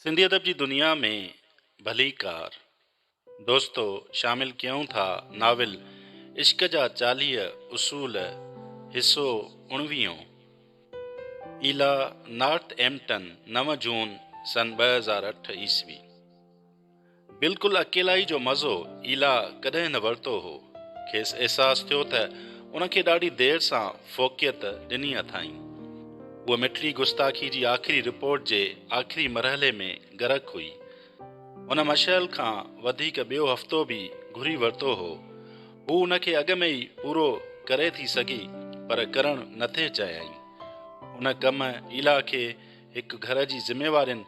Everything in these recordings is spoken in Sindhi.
سنڌي ادب جي دنيا ۾ ڀليڪار دوستو شامل ڪيون ٿا ناول عشق جا چاليهه اصول حصو اڻويهون ايلا نارٿ ايمپٽن نو جون سن ٻه هزار اٺ عيسوي. بلڪل اڪيلائي جو مزو ايلا ڪڏهن نه ورتو هو. کيس احساس ٿيو ته ان کي ڏاڍي دير سان فوقيت ڏني اٿائين. هوء مٺڙي گستاخي جي آخري رپورٽ جي آخري مرحلي ۾ غرق هئي. هن مشعل کان وڌيڪ ٻيو هفتو به گهري ورتو هو. هو ان کي اڳ ۾ ئي پورو ڪري ٿي سگهي پر ڪرڻ نه ٿي چاهيائين. ان ڪم ايلا کي هڪ گهر جي ذميوارين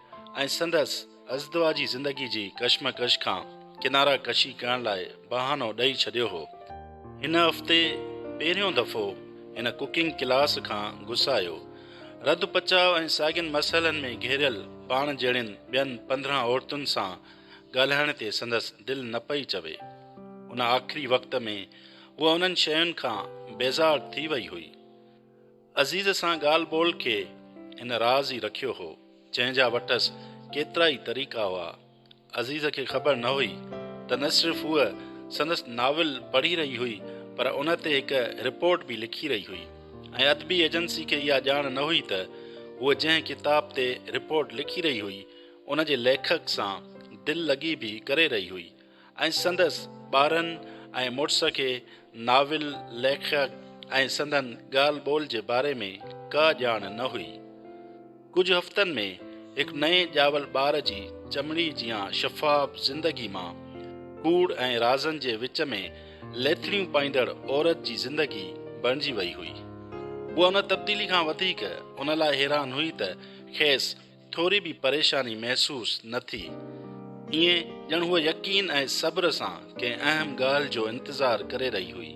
۽ سندس ازدواء جي زندگي جي ڪشمڪش کان ڪناره ڪشي ڪرڻ لاء بهانو ڏئي ڇڏيو هو. هن هفتي پهريون دفعو هن ڪوڪنگ ڪلاس کان گسايو. رڌ پچاء ۽ ساڳين مسئلن ۾ گهيريل پاڻ جهڙين ٻين پندرهن عورتن سان ڳالهائڻ تي سندس دل نه پئي چوي. ان آخري وقت ۾ هوء انهن شين کان بيزار ٿي وئي هئي. عزيز سان ڳالهه ٻولهه کي هن راز ئي رکيو هو، جنهن جا وٽس ڪيترائي طريقا هئا. عزيز کي خبر نه هئي ته نه صرف هوء سندس ناول پڙهي رهي هئي پر ان تي هڪ رپورٽ به لکي رهي هئي ۽ ادبي ايجنسي کي اها ڄاڻ نه هئي ته هوء جنهن ڪتاب تي رپورٽ لکي رهي هئي، ان جي ليکڪ سان دل لڳي به ڪري رهي هئي. ۽ سندس ٻارن ۽ مڙس کي ناول ليکڪ ۽ سندن ڳالهه ٻولهه جي باري ۾ ڪا ڄاڻ نه هئي. ڪجهه هفتن ۾ هڪ نئين ڄاول ٻار جي چمڙي جيان شفاف زندگي مان ڪوڙ ۽ رازن جي وچ ۾ ليٿڙيون پائيندڙ عورت جي زندگي بڻجي وئي هئي. هوء ان تبديلي کان وڌيڪ ان لاء حيران هئي ته کيس ٿوري به پريشاني محسوس نه ٿي. ائين ڄڻ هوء يقين ۽ صبر سان ڪنهن اهم ڳالهه جو انتظار ڪري رهي هئي.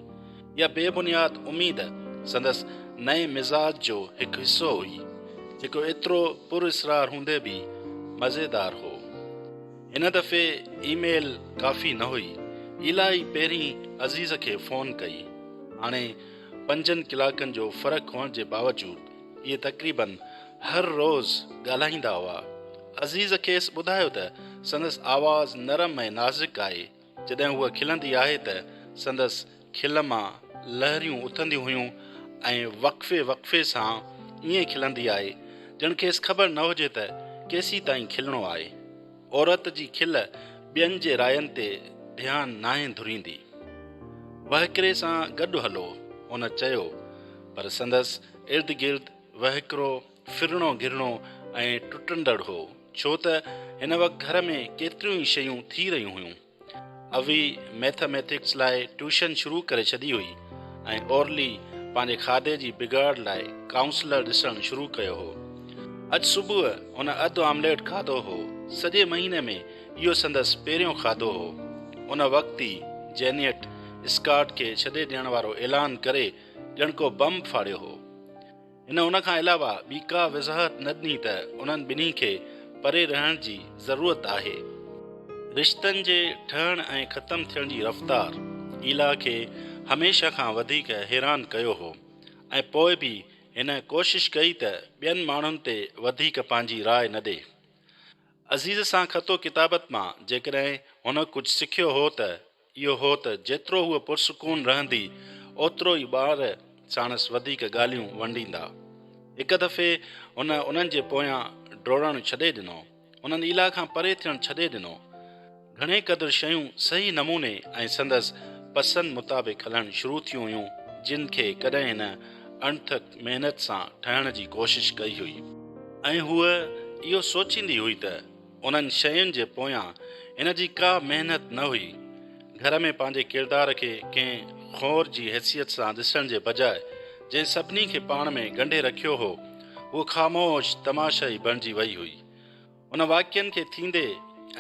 اها بي بنياد اميد سندس نئين مزاج جو هڪ حصو هئي، جيڪو ايترو پر اسرار هوندي به مزيدار هو. هن دفعي اي ميل ڪافي نه هئي. ايلائي پهرين عزيز کي فون ڪئي. هاڻي پنجن ڪلاڪن جو فرق هئڻ جي باوجود اهي تقريباً هر روز ڳالهائيندا هئا. عزيز کيس ٻڌايو ته سندس آواز نرم ۽ نازڪ آهي، جڏهن هوء کلندي آهي ته سندس کل مان لهريون اٿنديون هيون ۽ وقفي وقفي سان ائين کلندي آهي، ڄڻ کيس خبر نه هجي ته ڪيسين تائين کلڻو آهي. عورت جي کل ٻين جي راين تي ڌيان ناهي ڌريندي. وهڪري سان گڏ هلو، هن چيو، پر سندس ارد گرد وهڪرو ڦرڻو گهرڻو ۽ ٽٽندڙ هو، ڇو ته هن وقت گهر ۾ ڪيتريون ئي شيون ٿي رهيون هيون. اوي ميٿا ميٿڪس لاء ٽيوشن شروع ڪري ڇڏي هئي ۽ اورلي پنهنجي کاڌي جي بگاڙ لاء ڪائونسلر ڏسڻ شروع ڪيو هو. اڄ صبح هن اڌ آمليٽ کاڌو هو، سڄي مهيني ۾ اهو سندس پهريون کاڌو هو. ان وقت ئي جينيٽ اسڪاٽ کي ڇڏي ڏيڻ وارو اعلان ڪري، ڄڻ ڪو بم ڦاڙيو هو. هن ان کان علاوه ٻي ڪا وضاحت نه ڏني ته انهن ٻنهي کي پري رهڻ جي ضرورت آهي. رشتن جي ٺهڻ ۽ ختم ٿيڻ جي رفتار ايلا کي هميشه کان وڌيڪ حيران ڪيو هو ۽ پوء به هن ڪوشش ڪئي ته ٻين ماڻهن تي وڌيڪ پنهنجي راء نه ڏي. عزيز سان خط و ڪتابت مان جيڪڏهن هن ڪجهه سکيو هو ته، اهو هو ته جيترو هوء پرسڪون رهندي، اوترو ئي ٻار ساڻس وڌيڪ ڳالهيون ونڊيندا. هڪ دفعي هن انهن جي پويان ڊوڙڻ ڇڏي ڏنو. انهن ايلا کان پري ٿيڻ ڇڏي ڏنو. گهڻي قدر شيون صحيح نموني ۽ سندس پسند مطابق هلڻ شروع ٿيون هيون، جن کي ڪڏهن هن اڻٿڪ محنت سان ٺهڻ جي ڪوشش ڪئي هئي. ۽ هوء اهو سوچيندي هئي ته انهن شين جي پويان هن جي ڪا محنت نه هئي. گهر ۾ پنهنجي ڪردار کي ڪنهن خور جي حيثيت سان ڏسڻ جي بجاء جنهن سڀني کي پاڻ ۾ ڳنڍي رکيو هو، هوء خاموش تماشائي بڻجي وئي هئي. ان واقعن کي ٿيندي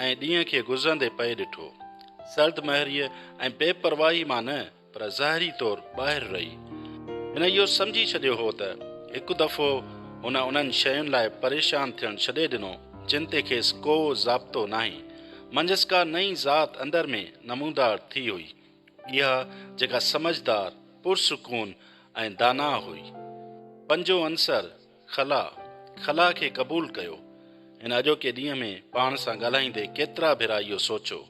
۽ ڏينهن کي گذرندي پئي ڏٺو. سرد مهريء ۽ بي پرواهي مان نه، پر ظاهري طور ٻاهر رهي، هن اهو سمجهي ڇڏيو هو ته هڪ دفعو هن انهن شين لاء پريشان ٿيڻ ڇڏي ڏنو، جن تي کيس ڪو ضابطو ناهي. منجهس ڪا نئين ذات اندر ۾ نمودار ٿي هئي، اها جيڪا سمجهدار، پرسڪون ۽ داناء هئي. پنجون عنصر، خلا، خلا کي قبول ڪيو. هن اڄوڪي ڏينهن ۾ پاڻ سان ڳالهائيندي ڪيترا ڀيرا اهو سوچيو.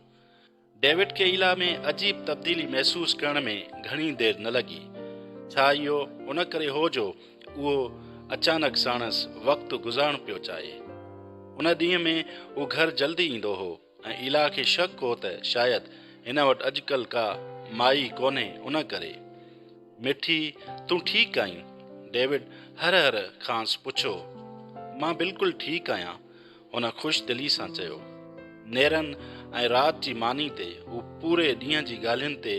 ڊيوڊ کي ايلا ۾ عجيب تبديلي محسوس ڪرڻ ۾ گهڻي دير نه لڳي. ڇا اهو ان ڪري هو جو اهو اچانڪ ساڻس وقت گذارڻ پيو چاهي. ان ڏينهن ۾ هو گهر جلدي ايندو هو ۽ ايلا کي شڪ هو ته شايد هن وٽ اڄڪلهه ڪا مائي ڪونهي ان ڪري. مٺي تون ٺيڪ آهين؟ ڊيوڊ هر هر کانئس پڇيو. مان بلڪل ٺيڪ آهيان. هن خوش دلي سان چيو. نيرن ۽ رات جي ماني تي هو پوري ڏينهن جي ڳالهين تي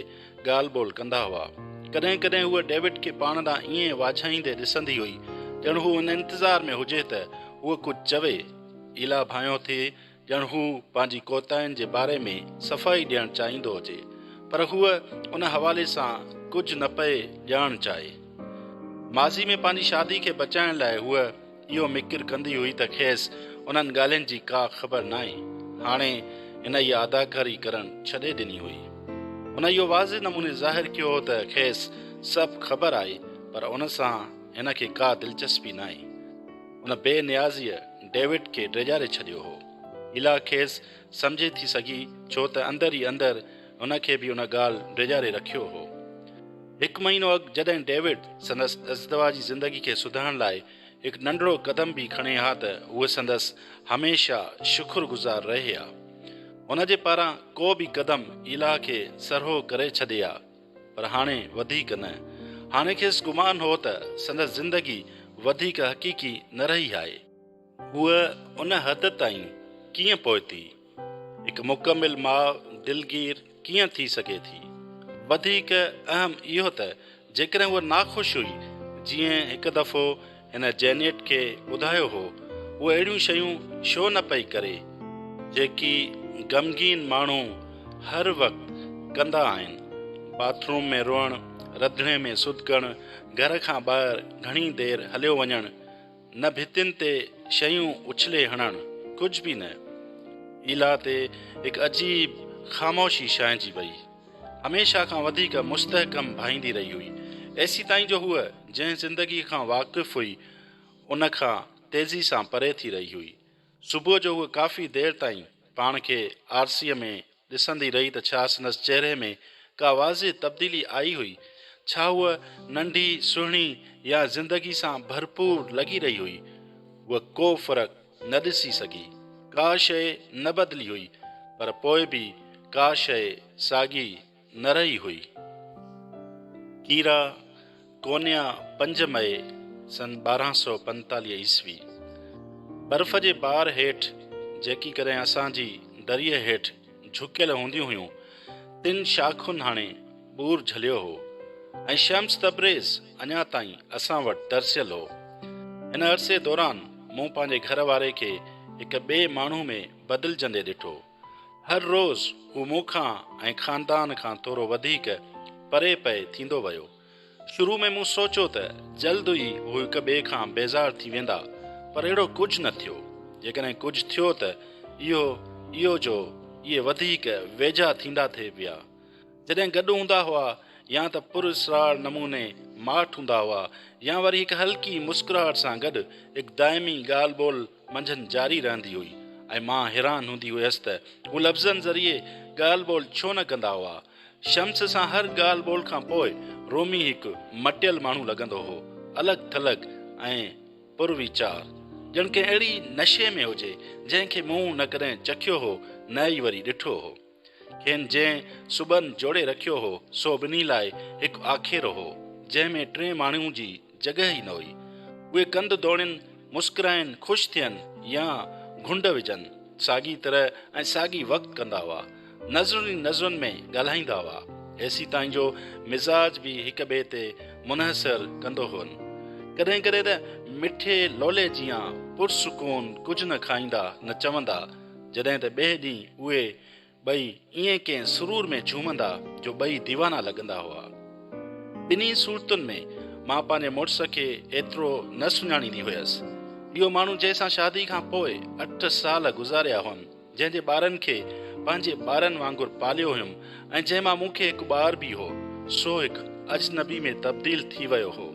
ڳالهه ٻولهه ڪندا هئا. ڪڏهن ڪڏهن هوء ڊيوڊ کي پاڻ ڏانهن ائين واجهائيندي ڏسندي هئي، ڄڻ هو ان انتظار ۾ هجي ته هوء ڪجهه چوي. ايلا ڀانئيو ٿي ڄڻ هو پنهنجي ڪوتاهين جي باري ۾ صفائي ڏيڻ چاهيندو هجي، پر هوء ان حوالي سان ڪجهه نه پئي ڄاڻڻ چاهي. ماضي ۾ پنهنجي شادي کي بچائڻ لاء هوء اهو مڪر ڪندي هئي ته کيس انهن ڳالهين جي ڪا خبر ناهي. هاڻي هن اها اداڪاري ڪرڻ ڇڏي ڏني هئي. هن اهو واضح نموني ظاهر ڪيو هو ته کيس سڀ خبر آهي پر ان سان هن کي ڪا دلچسپي ناهي. ان بي نيازيء ڊيوڊ کي ڊيڄاري ڇڏيو هو. ايلا کيس سمجهي ٿي سگهي ڇو ته اندر ئي اندر هن کي به ان ڳالهه ڊيڄاري رکيو هو. هڪ مهينو اڳ جڏهن ڊيوڊ سندس ازدواج جي زندگي کي سڌارڻ لاء هڪ ننڍڙو قدم به کڻي ها ته هوء سندس هميشه شڪر گذار رهي ها. هن جي پاران ڪو به قدم ايلا کي سرهو ڪري ڇڏي ها پر هاڻي وڌيڪ نه. هاڻي کيس گمان هو ته سندس زندگي وڌيڪ حقيقي نه رهي آهي. هوء ان حد تائين ڪيئن پهتي؟ هڪ مڪمل ماء دلگير ڪيئن ٿي سگهي ٿي؟ وڌيڪ اهم اهو ته جيڪڏهن هوء ناخوش هئي، جيئن هڪ دفعو هن جينيٽ کي ٻڌايو هو، هوء اهڙيون شيون ڇو نه پئي ڪري، جيڪي غمگين ماڻهو هر وقت ڪندا آهن، باٿ روم ۾ روئڻ، رڌڻي ۾ سڌڪڻ، گهر کان ٻاهر گهڻي دير هليو وڃڻ، نه ڀتين تي شيون اڇلي هڻڻ، ڪجهه به نه. ايلا تي هڪ عجيب خاموشي ڇانئجي ويئي. هميشه کان وڌيڪ مستحڪم ڀائيندي رهي هئي. ايسيتائين جو هوء جنهن زندگيء کان واقف هئي، ان کان تيزي سان پري ٿي رهي هئي. صبح جو هوء ڪافي دير تائين پاڻ کي آرسيء ۾ ڏسندي رهي ته ڇا سندس چهري ۾ ڪا واضح تبديلي آئي هئي؟ ڇا هوء ننڍي، سهڻي يا زندگي سان ڀرپور لڳي رهي هئي؟ هوء ڪو فرق نه ڏسي سگهي. ڪا شيء نه بدلي هئي، پر پوء به ڪا شيء ساڳي نه رهي هئي. ڪيرا، ڪونيا پنج مئي سن ٻارهن سؤ پنجيتاليهه عيسوي برف جي بار هيٺ جيڪي ڪڏهن اسان جي دريء هيٺ جهڪيل هونديون هيون تن شاخن هڻي ٻور جهليو هو ۽ شمس تبريز اڃا تائين اسان وٽ ترسيل هو هن عرصي دوران مون پنهنجي گهر واري کي هڪ ٻئي ماڻهو ۾ بدلجندي ڏٺو هر روز هو مون کان ۽ خاندان کان ٿورو وڌيڪ پري پئي ٿيندو ويو. شروع ۾ مون سوچيو ته جلد ئي هو هڪ ٻئي کان بيزار ٿي ويندا پر اهڙو ڪجهه نه ٿيو. جيڪڏهن ڪجهه ٿيو ته اهو اهو جو اهي وڌيڪ ويجها ٿيندا ٿي ويا. جڏهن گڏ هوندا هئا يا ته پر اسرار نموني ماٺ هوندا هئا يا وري هڪ هلڪي مسڪراهٽ سان گڏ هڪ دائمي ڳالهه ٻولهه منجهن جاري رهندي هئي ۽ مان حيران هوندي هئس ته هو لفظن ذريعي ڳالهه ٻولهه ڇو نه ڪندا هئا. شمس سان هر ڳالهه ٻولهه کان پوء رومي هڪ مٽيل ماڻهو لڳندو هو. الڳ ٿلڳ ۽ پر ويچار. ڄڻ ڪنهن اهڙي نشي ۾ هجي، جنهن کي مون نه ڪڏهن چکيو هو نه ئي وري ڏٺو هو. کين جنهن سٻن جوڙي رکيو هو، سو ٻنهي لاء هڪ آکيرو هو، جنهن ۾ ٽئين ماڻهو جي جڳهه ئي نه هئي. اهي ڪنڌ ڌوڻين، مسڪرائين، خوش ٿين يا گهنڊ وجهن، ساڳي طرح ۽ ساڳي وقت ڪندا هئا. نظرن ئي نظرن ۾ ڳالهائيندا هئا. ايسي تائين جو مزاج به هڪ ٻئي تي منحصر ڪندو هئن. ڪڏهن ڪڏهن ته مٺي لولي جيان پرسڪون ڪجهه نه کائيندا نه چوندا، جڏهن ته ٻئي ڏينهن اهي ٻئي ائين ڪنهن سرور ۾ جهومندا جو ٻئي ديوانا لڳندا هئا. ٻنهي صورتن ۾ مان پنهنجي مڙس کي ايترو نه سڃاڻيندي هيس. اهو ماڻهو جنهن سان شادي کان پوء اٺ سال گذاريا هئم، جنهن جي ٻارن کي پنهنجي ٻارن وانگر پاليو هيم ۽ جنهن مان مون کي هڪ ٻار به هو، سو هڪ اجنبي ۾ تبديل ٿي ويو هو.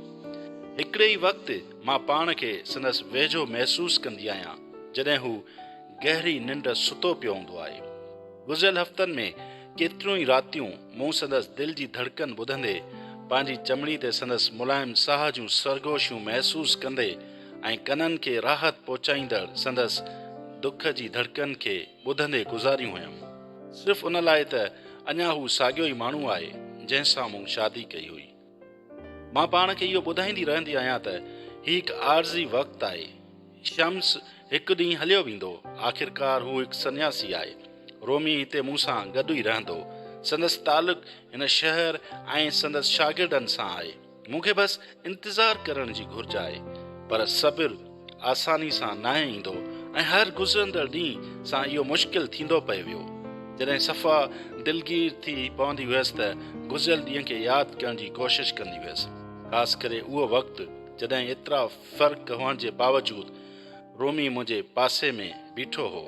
هڪڙي ئي وقت مان پاڻ کي سندس ويجهو محسوس ڪندي آهيان، جڏهن هو گهري ننڊ ستو پيو هوندو آهي. گذريل هفتن ۾ ڪيتريون ئي راتيون مون سندس دل جي ڌڙڪن ٻڌندي، پنهنجي چمڙي تي سندس ملائم ساهه جون سرگوشيون محسوس ڪندي ۽ ڪنن کي راحت پهچائيندڙ سندس دک جي ڌڙڪن کي ٻڌندي گذاريون هيم. صرف ان لاء ته اڃا هو ساڳيو ئي ماڻهو آهي، جنهن سان مون شادي ڪئي هئي. مان پاڻ کي اهو ٻڌائيندي رهندي آهيان ته هي هڪ عارضي وقت آهي. شمس هڪ ڏينهن هليو ويندو. آخرڪار هو هڪ سنياسي آهي. رومي هتي مون سان گڏ ئي رهندو. سندس تعلق هن شهر ۽ سندس شاگردن سان آهي. مون کي بس انتظار ڪرڻ جي گهرج آهي. پر صبر! آساني سان ناهي ايندو ۽ هر گذرندڙ ڏينهن سان اهو مشڪل ٿيندو پئي ويو. جڏهن صفا دلگير ٿي پوندي هيس ته گذريل ڏينهن کي ياد ڪرڻ جي ڪوشش ڪندي هيس، خاص ڪري اهو وقت جڏهن ايترا فرق هئڻ جي باوجود رومي منهنجي پاسي ۾ بيٺو هو.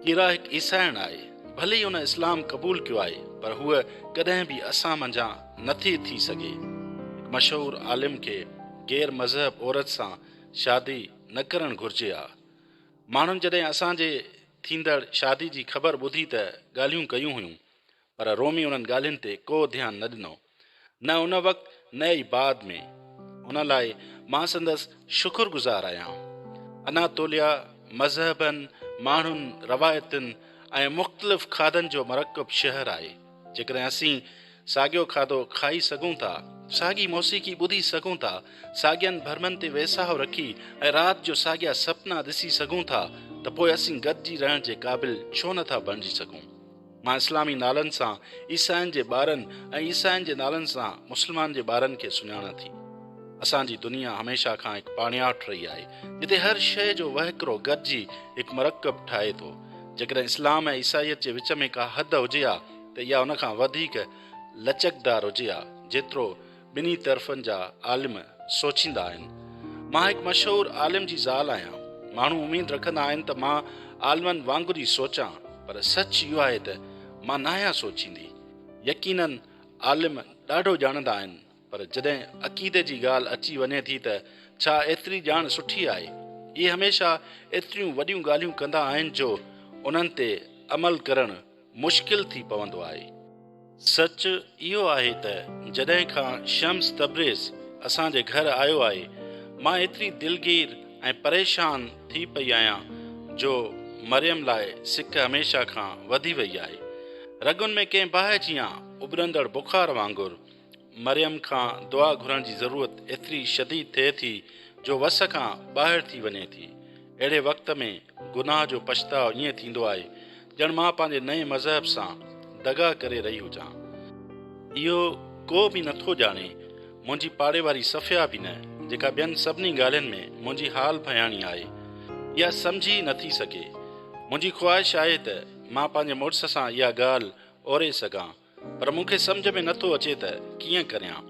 ڪيرا هڪ عيسائڻ آهي، ڀلي ئي هن اسلام قبول ڪيو آهي پر هوء ڪڏهن به اسان منجهان نٿي ٿي سگهي. هڪ مشهور عالم کي. غير مذهب عورت سان شادي نه ڪرڻ گهرجي ها. ماڻهن جڏهن اسان جي ٿيندڙ شادي جي خبر ٻڌي ته ڳالهيون ڪيون هيون پر رومي انهن ڳالهين تي ڪو ڌيان نه ڏنو نه ان وقت نه ئي بعد ۾ ان لاء مان سندس شڪر گذار آهيان. اناطوليا مذهبن، ماڻهن، روايتن ۽ مختلف کاڌن جو مرڪب شهر آهي. جيڪڏهن اسين ساڳيو کاڌو کائي سگهون ٿا، ساڳي موسيقي ٻڌي سگهون ٿا، ساڳين ڀرمن تي ويساهه رکي ۽ رات جو ساڳيا سپنا ڏسي سگهون ٿا ته پوء اسين گڏجي رهڻ جي قابل ڇو نه ٿا بڻجي سگهون؟ مان اسلامي نالن سان عيسائين جي ٻارن ۽ عيسائين جي نالن سان مسلمان جي ٻارن کي سڃاڻان ٿي. اسان جي دنيا هميشه کان هڪ پاڻياٺ رهي آهي، جتي هر شيء جو وهڪرو گڏجي هڪ مرڪب ٺاهي ٿو. جيڪڏهن اسلام ۽ عيسائيت جي وچ ۾ ڪا حد هجي ها ته اها ان کان وڌيڪ لچڪدار هجي ها جيترو ٻنهي طرفن جا عالم سوچيندا آهن. مان هڪ مشهور عالم جي زال آهيان. ماڻهو اميد رکندا آهن ته مان عالمن وانگر ئي سوچان پر سچ اهو آهي ته مان ناهيان سوچيندي. يقينن عالم ڏاڍو ڄاڻندا آهن. پر جڏهن عقيدي جي ڳالهه اچي وڃي ٿي ته ڇا ايتري ڄاڻ سٺي آهي؟ اهي هميشه ايتريون وڏيون ڳالهيون ڪندا آهن جو انهن تي عمل ڪرڻ مشڪل ٿي پوندو آهي. سچ اهو آهي ته جڏهن کان شمس تبريز اسان جي گهر آيو آهي مان ايتري دلگير ۽ پريشان ٿي پئي آهيان جو مريم لاء سڪ هميشه کان وڌي وئي آهي. رڳن ۾ ڪنهن باهه جيان اڀرندڙ بخار وانگر مريم کان دعا گهرڻ جي ضرورت ايتري شديد ٿئي ٿي جو وس کان ٻاهر ٿي وڃي ٿي. اهڙي وقت ۾ گناهه جو پڇتاء ائين ٿيندو آهي ڄڻ مان پنهنجي نئين مذهب سان دغا ڪري رهي هجان. اهو ڪو به نه ٿو ڄاڻي، منهنجي پاڙي واري صفيه به نه، جيڪا ٻين سڀني ڳالهين ۾ منهنجي حال ڀياڻي آهي، اها سمجهي ئي نه ٿي سگهي. منهنجي خواهش آهي ته مان پنهنجي مڙس سان اها ڳالهه اوري سگهان. پر مون کي سمجهه ۾ نه ٿو اچي ته ڪيئن ڪريان.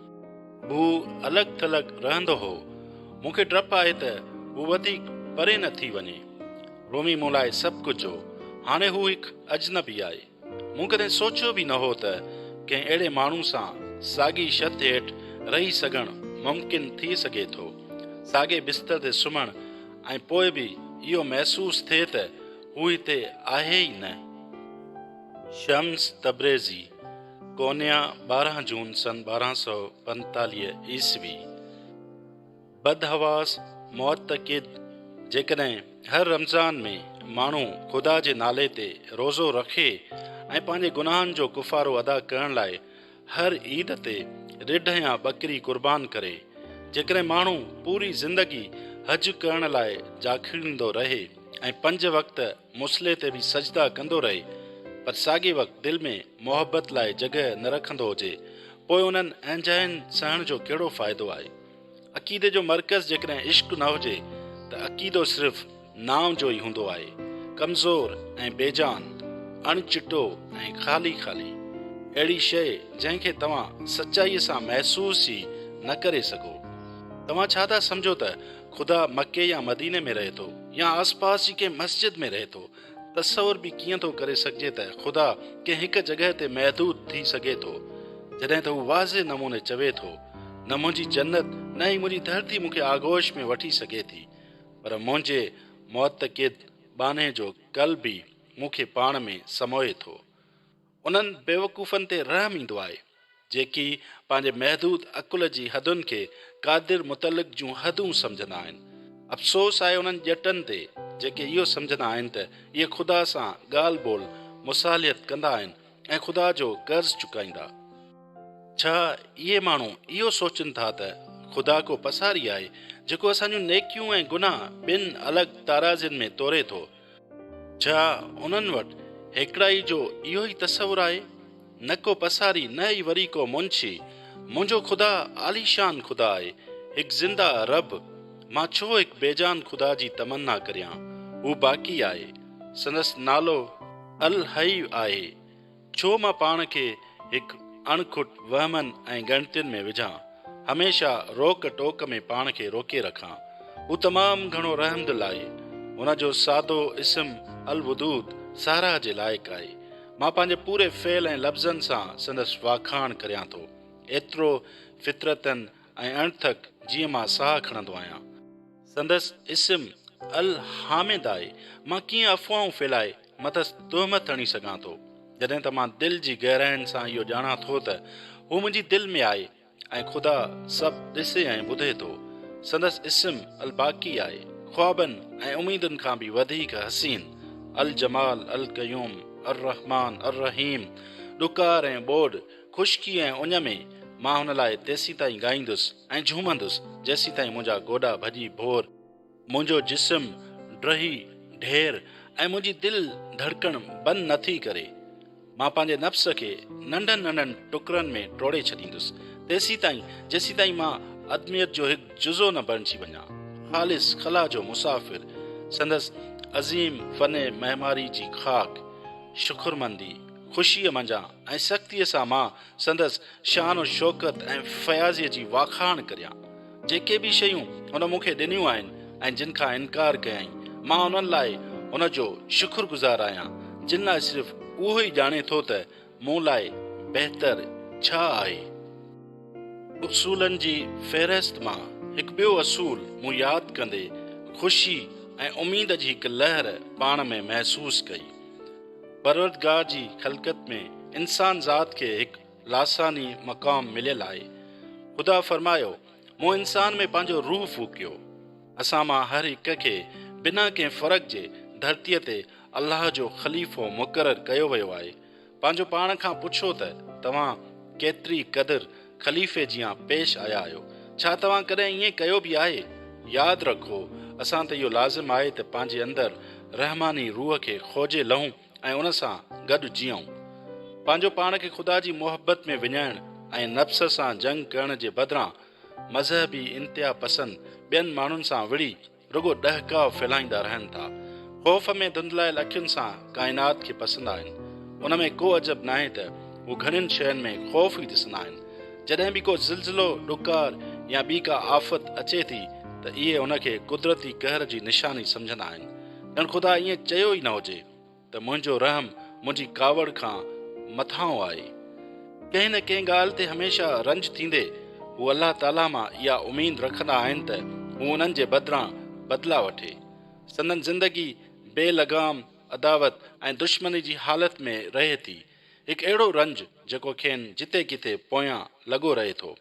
هو الڳ ٿلڳ رهندو هو. مون کي ڊپ آهي ته هو وڌيڪ پري نه ٿي وڃي. رومي مون لاء سڀ ڪجهه هو. هاڻي هو هڪ اجنبي آهي. مون ڪڏهن سوچيو به نه هو ته ڪنهن اهڙي ماڻهو سان ساڳي شٿ هيٺ رهي سگهڻ ممڪن ٿي سگهي ٿو. ساڳي بستر تي سمهڻ ۽ پوء به اهو محسوس ٿئي ته هو هتي آهي ئي نه. شمس تبريزي، ڪونيا، ٻارهن جون سن ٻارهن سؤ پنجيتاليهه عيسوي، بدحواس معتقد جيڪڏهن هر رمضان ۾ ماڻهو خدا جي نالي تي روزو رکي ۽ پنهنجي گناهن جو ڪفارو ادا ڪرڻ لاء هر عيد تي رڍ يا ٻڪري قربان ڪري، جيڪڏهن ماڻهو پوري زندگي حج ڪرڻ لاء جاکيڙيندو رهي ۽ پنج وقت مصلي تي به سجدا ڪندو رهي پر ساڳي وقت دل ۾ محبت لاء جڳهه نه رکندو هجي پوء انهن اهنجاين سهڻ جو ڪهڙو فائدو آهي؟ عقيدي جو مرڪز جيڪڏهن عشق نه هجي ته عقيدو صرف نانء جو ئي هوندو آهي، ڪمزور ۽ بيجان، اڻ چٽو ۽ خالي خالي. اهڙي شيء جنهن کي توهان سچائيء سان محسوس ئي نه ڪري سگهو. توهان ڇا ٿا سمجهو ته خدا مڪي يا مديني ۾ رهي ٿو يا آس پاس جي ڪنهن مسجد ۾ رهي ٿو. تصور به ڪيئن ٿو ڪري سگهجي ته خدا ڪنهن هڪ جڳهه تي محدود ٿي سگهي ٿو. جڏهن ته هو واضح نموني چوي ٿو، نه منهنجي جنت نه ئي منهنجي ڌرتي مون کي آغوش ۾ وٺي سگهي ٿي. پر منهنجي معتقد ٻانهي جو قلب ئي مون کي پاڻ ۾ سموئي ٿو. انهن بيوقوفن تي رحم ايندو آهي، جيڪي پنهنجي محدود عقل جي حدن کي قادر متعلق جون حدون سمجهندا آهن. افسوس آهي انهن ڄٽن تي، جيڪي اهو سمجهندا آهن ته اهي خدا سان ڳالهه ٻولهه، مصالحت، ڪندا آهن ۽ خدا جو قرض چڪائيندا. ڇا اهي ماڻهو اهو سوچين ٿا ته خدا ڪو پساري آهي، جيڪو اسان جون نيڪيون ۽ گناهه ٻن الڳ ترازين ۾ توري ٿو؟ ڇا انهن وٽ هيڪڙائي جو اهو ئي تصور آهي؟ نه ڪو پساري نه ئي وري ڪو منشي. منهنجو خدا عاليشان خدا آهي، هڪ زنده رب. مان ڇو هڪ بيجان خدا جي تمنا ڪريان. هو باقي آهي. سندس نالو الحي آهي. ڇو مان پاڻ کي هڪ اڻ کٽ وهمن ۽ ڳڻتين ۾ وجهان، هميشه روڪ ٽوڪ ۾ پاڻ کي روڪي رکان. هو تمام گهڻو رحم دل آهي. هن جو سادو اسم الودود ساراهه جي لائق آهي. مان پنهنجي پوري فعل ۽ لفظن سان سندس واکاڻ ڪريان ٿو. ايترو فطرتن ۽ اڻٿڪ جيئن مان ساهه کڻندو آهيان. سندس اسم الحامد آهي. مان ڪيئن افواهون ڦهلائي مٿس تهمت هڻي سگهان ٿو، جڏهن ته مان دل جي گهراين سان اهو ڄاڻان ٿو ته هو منهنجي دل ۾ آهي ۽ خدا سڀ ڏسي ۽ ٻڌي ٿو. سندس اسم الباقي آهي، خوابن ۽ اميدن کان به وڌيڪ حسين، الجمال، القيوم، الرحمان، الرحيم، ڏڪار ۽ ٻوڏ، خشڪي ۽ اڃ ۾، مان هن لاء تيسيتائين ڳائيندس ۽ جهومندس جيسيتائين منهنجا گوڏا ڀڄي ڀور، منهنجو جسم ڊهي ڍير ۽ منهنجي دل ڌڙڪڻ بند نه ٿي ڪري. مان پنهنجي نفس کي ننڍن ننڍن ٽڪرن ۾ ٽوڙي ڇڏيندس تيسيتائين جيسيتائين مان ادميت جو هڪ جزو نه بڻجي وڃان. خالص خلا جو مسافر سندس عظيم فن معماري جي خاڪ، شڪرمندي، خوشيء منجهان ۽ سختيء سان مان سندس شان و شوڪت ۽ فياضيء جي واکاڻ ڪريان. جيڪي به شيون هن مون کي ڏنيون آهن ۽ جن کان انڪار ڪيائين، مان انهن لاء هن جو شڪر گذار آهيان، جن لاء صرف اهو ئي ڄاڻي ٿو ته مون لاء بهتر ڇا آهي. اصولن جي فهرست مان هڪ ٻيو اصول مون ياد ڪندي خوشي ۽ اميد جي هڪ لهر پاڻ ۾ محسوس ڪئي. پروردگار جي خلقت ۾ انسان ذات کي هڪ لاثاني مقام مليل آهي. خدا فرمايو، مون انسان ۾ پنهنجو روح ڦوڪيو. اسان مان هر هڪ کي بنا ڪنهن فرق جي ڌرتيء تي الله جو خليفو مقرر ڪيو ويو آهي. پنهنجو پاڻ کان پڇو ته توهان ڪيتري قدر خليفي جيان پيش آيا آهيو، ڇا توهان ڪڏهن ائين ڪيو به آهي؟ ياد رکو، اسان تي اهو لازم آهي ته پنهنجي اندر رحماني روح کي کوجي لهون ۽ ان سان گڏ جيئون. پنهنجو پاڻ کي خدا جي محبت ۾ وڃائڻ ۽ نفس سان جنگ ڪرڻ جي بدران، مذهبي انتها پسند ٻين ماڻهن سان وڙهي، رڳو ڏهڪاء ڦهلائيندا رهن ٿا. خوف ۾ ڌنڌلايل اکين سان ڪائنات کي پسندا آهن. ان ۾ ڪو عجب ناهي ته هو گهڻين شين ۾ خوف ئي ڏسندا آهن. جڏهن به ڪو زلزلو، ڏڪار يا ٻي ڪا آفت اچي ٿي ته اهي ان کي قدرتي قهر جي نشاني سمجهندا آهن. ڄڻ خدا ائين چيو ئي نه هجي. ته منهنجو رحم منهنجي ڪاوڙ کان مٿانهون آهي. ڪنهن نه ڪنهن ڳالهه تي هميشه رنج ٿيندي هو الله تعاليٰ مان اها اميد رکندا آهن ته هو انهن جي بدران بدلا وٺي. سندن زندگي بي لغام عداوت ۽ دشمني جي حالت ۾ رهي ٿي، هڪ اهڙو رنج جيڪو کين جتي ڪٿي پويان لڳو رهي ٿو.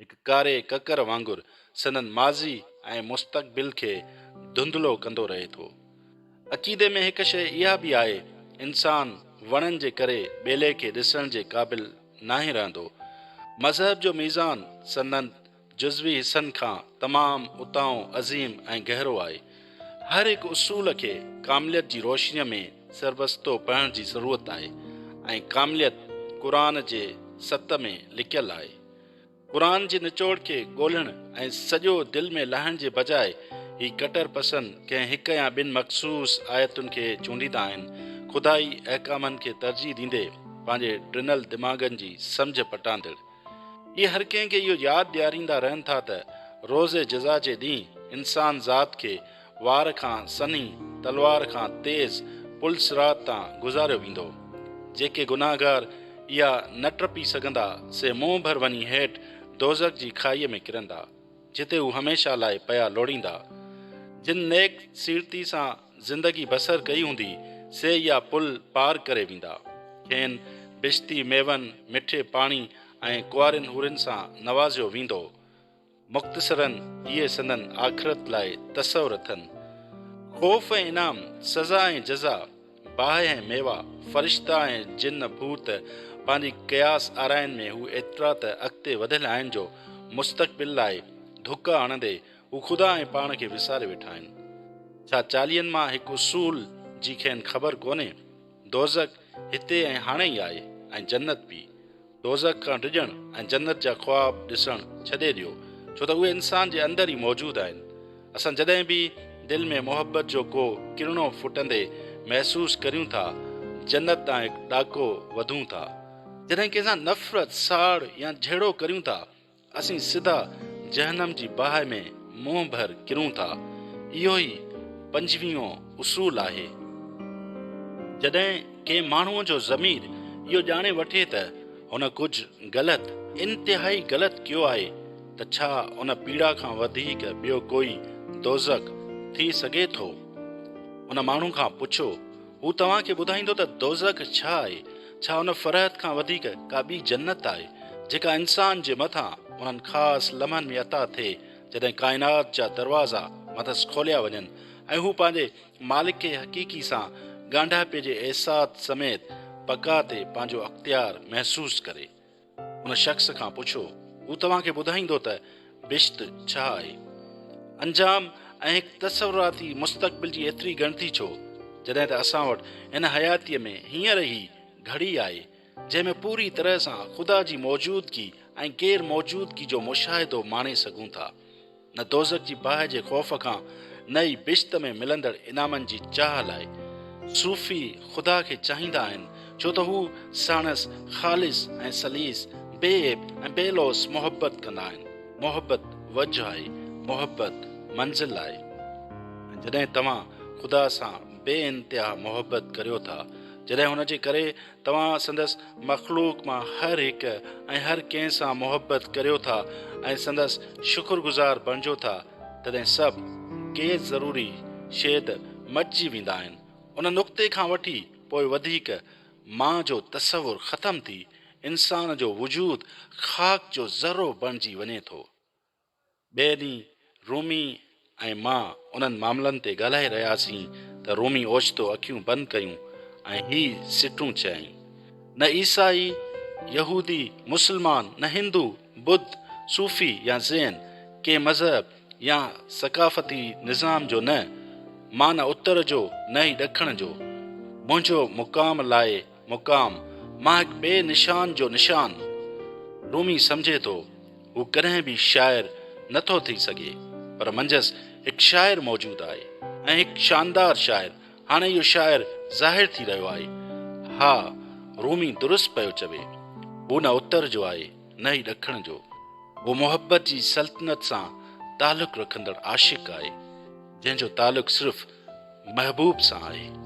هڪ ڪاري ڪڪر وانگر سندن ماضي ۽ مستقبل کي ڌنڌلو ڪندو رهي ٿو. عقيدي ۾ هڪ شيء اها به آهي، انسان وڻن جي ڪري ٻيلي کي ڏسڻ جي قابل ناهي رهندو. مذهب جو ميزان سندن جزوي حصن کان تمام اتاهون عظيم ۽ گهرو آهي. هر هڪ اصول کي ڪامليت جي روشنيء ۾ سربستو پڙهڻ جي ضرورت آهي ۽ ڪامليت قرآن جي ست ۾ لڪيل آهي. قرآن جي نچوڙ کي ڳولهڻ ۽ سڄو دل ۾ لاهڻ جي بجاء هي ڪٽر پسند ڪنهن هڪ يا ٻن مخصوص آيتن کي چونڊيندا آهن، خدائي احڪامن کي ترجيح ڏيندي پنهنجي ڊنل دماغن جي سمجهه پٽاندڙ. اهي هر ڪنهن کي اهو ياد ڏياريندا رهن ٿا ته روز جزا جي ڏينهن انسان ذات کي وار کان سنهي، تلوار کان تيز پل صراط تان گذاريو ويندو. جيڪي گناهگار اها نه ٽپي سگهندا سي منهن ڀر وڃي هيٺ دوزخ جي کاهيء ۾ ڪرندا. جتي هو هميشه لاء پيا لوڙيندا. جن نيڪ سيرتي سان زندگي بسر ڪئي هوندي، سي اها پل پار ڪري ويندا. کين بشتي ميون، مٺي پاڻي ۽ ڪنوارين حورين سان نوازيو ويندو. مختصراً اهي سندن آخرت لاء تصور اٿن. خوف ۽ انعام، سزا ۽ جزا. باهه ۽ ميوا، فرشتا ۽ جن ڀوت پنهنجي قياس آرائين ۾ هو ايترا ته اڳتي وڌيل آهن جو مستقبل لاء ڌڪ هڻندي هو خدا ۽ پاڻ کي وساري ويٺا آهن. ڇا چاليهن مان هڪ اصول جي کين خبر ڪونهي؟ دوزخ هتي ۽ هاڻي ئي آهي ۽ جنت به. دوزخ کان ڊڄڻ ۽ جنت جا خواب ڏسڻ ڇڏي ڏيو ڇو ته اهي انسان جي اندر ئي موجود آهن. اسان جڏهن به دل ۾ محبت جو ڪو ڪرڻو ڦٽندي محسوس ڪريون ٿا، جنت ڏانهن هڪ ڏاڪو وڌون ٿا. جڏهن ڪنهن سان نفرت، ساڙ يا جهيڙو ڪريون ٿا، اسين سڌا جهنم جي باهه ۾ منهن ڀر ڪرون ٿا. اهو ئي پنجويهون اصول آهي. جڏهن ڪنهن ماڻهوء جو ضمير اهو ڄاڻي وٺي ته هن ڪجهه غلط، انتهائي غلط ڪيو آهي ته ڇا ان پيڙا کان وڌيڪ ٻيو ڪوئي دوزخ ٿي سگهي ٿو؟ ان ماڻهو کان پڇو، هو توهان کي ٻڌائيندو ته دوزخ ڇا آهي، ڇا ان فرحت کان وڌيڪ ڪا ٻي جنت آهي، جيڪا انسان جي مٿان انهن خاص لمحن ۾ عطا ٿئي جڏهن ڪائنات جا دروازا مٿس کوليا وڃن ۽ هو پنهنجي مالڪ کي حقيقي سان ڳانڍاپي جي احساس سميت بقا تي پنهنجو اختيار محسوس ڪري. ان شخص کان پڇو، هو توهان کي ٻڌائيندو ته بهشت ڇا آهي؟ انجام ۽ هڪ تصوراتي مستقبل جي ايتري ڳڻتي ڇو، جڏهن ته اسان وٽ هن حياتيء ۾ هينئر هي گهڙي آهي، جنهن ۾ پوريء طرح سان خدا جي موجودگي ۽ غير موجودگي جو مشاهدو ماڻي سگهون ٿا. نه دوزخ جي باهه جي خوف کان، نه ئي بهشت ۾ ملندڙ انعامن جي چاهه لاء. صوفي خدا کي چاهيندا آهن، ڇو ته هو ساڻس خالص ۽ سليس، بي عيب ۽ بي لوث محبت ڪندا آهن. محبت وجهه آهي، محبت منزل آهي. ۽ جڏهن توهان خدا سان بي انتها محبت ڪريو ٿا، جڏهن هن جي ڪري توهان سندس مخلوق مان هر هڪ ۽ هر ڪنهن سان محبت ڪريو ٿا ۽ سندس شڪر گذار بڻجو ٿا، تڏهن سڀ ڪي ضروري شيد مٽجي ويندا آهن. ان نقطي کان وٺي پوء وڌيڪ مان جو تصور ختم ٿي، انسان جو وجود خاڪ جو ذرو بڻجي وڃي ٿو. ٻئي ڏينهن رومي ۽ مان انهن معاملن تي ڳالهائي رهياسين ته رومي اوچتو اکيون بند ڪيون ۽ هي سٽون چيائين، نه عيسائي، يهودي، مسلمان، نه هندو، ٻڌ، صوفي يا زين، ڪنهن مذهب يا ثقافتي نظام جو نه، مان نه اتر جو نه ئي ڏکڻ جو، منهنجو مقام لاء، مقام مان هڪ ٻئي نشان جو نشان رومي سمجهي ٿو، هو ڪڏهن به شاعر نه ٿو ٿي سگهي، پر منجهس هڪ شاعر موجود آهي ۽ هڪ شاندار شاعر، هاڻي اهو شاعر ظاهر ٿي رهيو آهي. ها، رومي درست پيو چوي. هو نه اتر جو آهي، نه ئي ڏکڻ جو. هو محبت جي سلطنت سان تعلق رکندڙ عاشق آهي، جنهن جو تعلق صرف محبوب سان آهي.